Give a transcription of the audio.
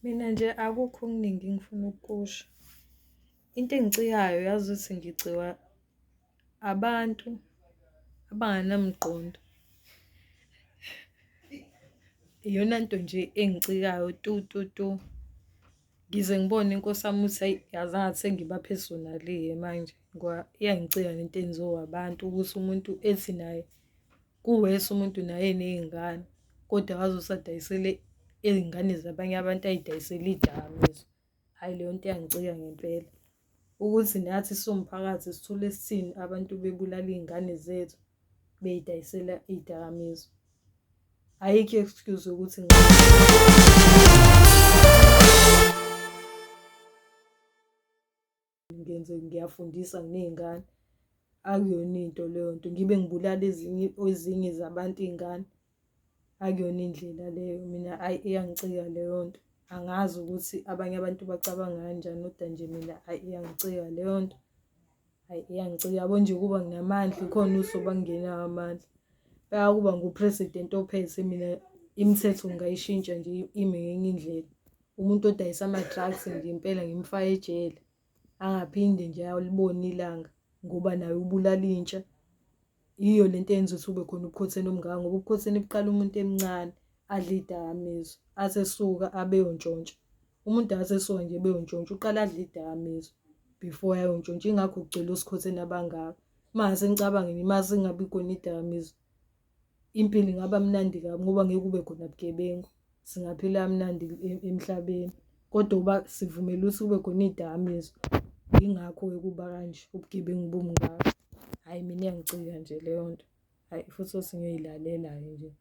Mina nje akukho okuningi engifuna ukukusho. Into engiciyayo yazi ukuthi ngiciwa abantu abanganamqondo. Iyona nto nje engicikayo tu tu tu. Ngize ngibone inkosi yami ukuthi ayi yazi ngathi sengiba personally ke manje ngoba iyangicika lento enziwa abantu ukuthi umuntu ethi naye kuwese umuntu naye nezingane kodwa wazosadayisele izingane zabanye abantu ayidayisele idakamizwa. Hayi leyo nto iyangicika ngempela. ukuthi nathi siwumphakathi sithole sithini abantu bebulala iy'ngane zethu beyidayisela iy'dakamizwa ayikho excuse ukuthi ngenze ngiyafundisa nginey'ngane akuyona into leyo nto ngibe ngibulala ezinye ezinye zabantu iy'ngane akuyona indlela leyo mina ayi iyangicika leyo nto angazi ukuthi abanye abantu bacabanga kanjani kodwa nje mina ayi iyangicika leyo nto ayi iyangicika yabo nje kuba nginamandla ikhona uso bangenawo amandla bayakuba ngupresident ophethe mina imithetho ngingayishintsha nje ime ngenye indlela umuntu odayisa ama-drugs nje impela ngimfake ejele angaphinde nje ayolibona ilanga ngoba naye ubulala intsha yiyo lento eyenza ukuthi kube khona ubukhotheni omngaka ngoba ubukhotheni buqala umuntu emncane adle idakamizwa asesuka abeyontshontsha umuntu asesuka nje beyontshontsha uqala adle idakamizwa before ayontshontsha ingakho kugcwele osikhotheni abangaka mase nicabangeni mase ingabi khona idakamizwa impilo ingaba mnandi kabi ngoba ngeke kube khona bugebengu singaphila mnandi e-, emhlabeni kodwa uba sivumela ukuthi kube khona iy'dakamizwa yingakho-ke kuba kanje ubugebengu bumngaka hhayi mina iyangicika nje leyo nto hhayi futhi othi ngiyoyilalela-ke nje